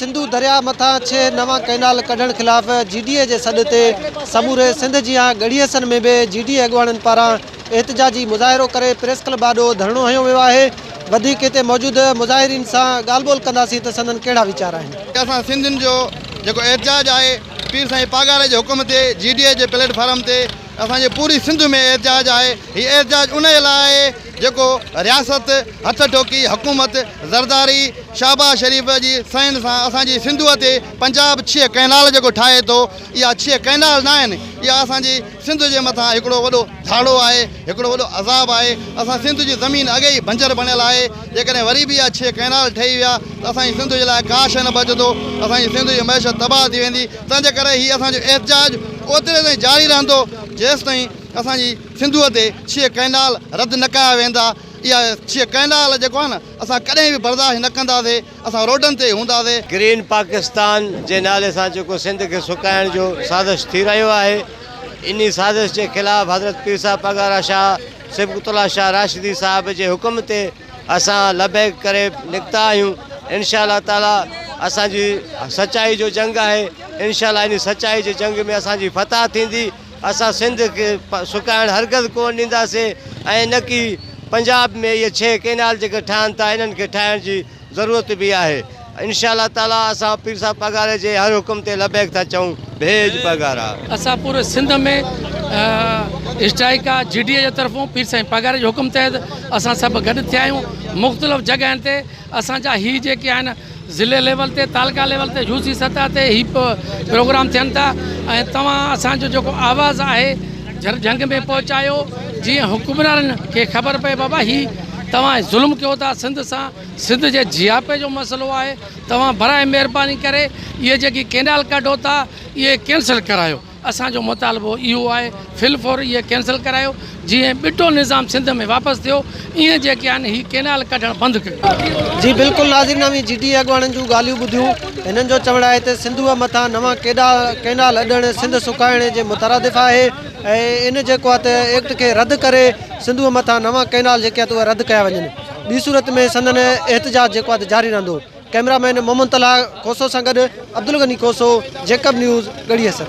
سنڌو درياهه مٿان ڇهه نوان ڪئنال ڪڍڻ خلاف جي ڊي اي جي سڏ تي سموري سنڌ جيان ڳڙهي حسن ۾ به جي ڊي اي اڳواڻن پاران احتجاجي مظاهرو ڪري پريس ڪلب آڏو ڌرڻو هنيو ويو آهي وڌيڪ هتي موجود مظاهرين سان ڳالهه ٻولهه ڪنداسين ته سندن ڪهڙا ويچار آهن. اسان سنڌين جو جيڪو احتجاج آهي پير سائين پاڳاري جي حڪم تي جي ڊي اي جي پليٽ فارم تي اسان جي پوري سنڌ ۾ احتجاج آهي هي احتجاج انهي لاء آهي جيڪو رياست، هٿ ٺوڪي حڪومت، زرداري، شهباز شريف جي سئن سان اسان جي سنڌوء تي پنجاب ڇهه ڪئنال جيڪو ٺاهي ٿو، اها ڇهه ڪئنال ناهن، اها اسان جي سنڌ جي مٿان هڪڙو وڏو ڌاڙو آهي، هڪڙو وڏو عذاب آهي، اسان سنڌ جي زمين اڳي ئي بنجر بڻيل آهي، جيڪڏهن وري به اها ڇهه ڪئنال ٺهي ويا ته اسان جي سنڌ جي لاء ڪا شيء نه بچندو، اسان جي سنڌ جي معيشت تباهه ٿي ويندي، تنهنجي ڪري هي اسان جو احتجاج اوتري تائين جاري رهندو، جيستائين اسان جي. سنڌوء تي ڇهه ڪئنال رد نه ڪيا ويندا، اها ڇهه ڪئنال جيڪو آهي نه اسان ڪڏهن به برداشت نه ڪنداسين، اسان روڊن تي هونداسين. گرين پاڪستان جي نالي سان جيڪو سنڌ کي سڪائڻ جو سازش ٿي رهيو آهي انهي سازش جي خلاف حضرت پير صاحب پڳارا شاهه صبغت الله شاهه راشدي صاحب جي حڪم تي اسان لبيڪ ڪري نڪتا آهيون انشاء الله تعالي اسان جي سچائي جو جنگ آهي انشاء الله انهي سچائي جي جنگ ۾ اسان جي فتح ٿيندي. اسان سنڌ کي سڪائڻ هرگز ڪونه ڏينداسين ۽ نه ڪي پنجاب ۾ اهي ڇهه ڪينال جيڪي ٺهن ٿا انهن کي ٺاهڻ جي ضرورت به آهي انشاء الله تعالي اسان پير صاحب پاڳاري جي هر حڪم تي لبيڪ ٿا چئون ڀيڄ پاڳارا. اسان پوري سنڌ ۾ اسٽرائيڪ آ جي ڊي اي جي طرفون پير سائين پاڳاري جي حڪم تحت اسان سڀ گڏ ٿيا آهيون مختلف جڳهن تي اسان جا هي جيڪي آهن ضلعي ليول تي تعلقه ليول تي يو سي سطح تي هي پروگرام ٿين ٿا ۽ توهان اسان جو جيڪو آواز آهي جھر جھنگ ۾ پهچايو جيئن حڪمرانن کي خبر پئي بابا هي توهان ظلم ڪيو ٿا سنڌ سان سنڌ جي جياپي جو مسئلو آهي توهان براء مهرباني ڪري اهي جيڪي ڪينال ڪڍو ٿا اهي ڪينسل ڪرايو اسان جو مطالبو اهو آهي في الفور اهي ڪينسل ڪرايو جيئن ٻٽو نظام سنڌ ۾ واپس ٿيو ايئن جيڪي آهن هي ڪينال ڪڍڻ بند ڪيو. جي بلڪل ناظرين اوهين جي ڊي اي اڳواڻن جون ڳالهيون ٻڌيون هنن جو چوڻ آهي ته سنڌوء مٿان نوان ڪيڏا ڪينال اڏڻ سنڌ سڪائڻ جي مترادف آهي ۽ ان جيڪو آهي ته ايڪٽ کي رد ڪري سنڌوء مٿان نوان ڪينال جيڪي آهي ته اهي رد ڪيا وڃن ٻي صورت ۾ سندن احتجاج جيڪو آهي ته جاري رهندو. ڪئميرا مين محمد طلحه کوسو سان گڏ عبدالغني کوسو، جيڪب نيوز، ڳڙهي حسن.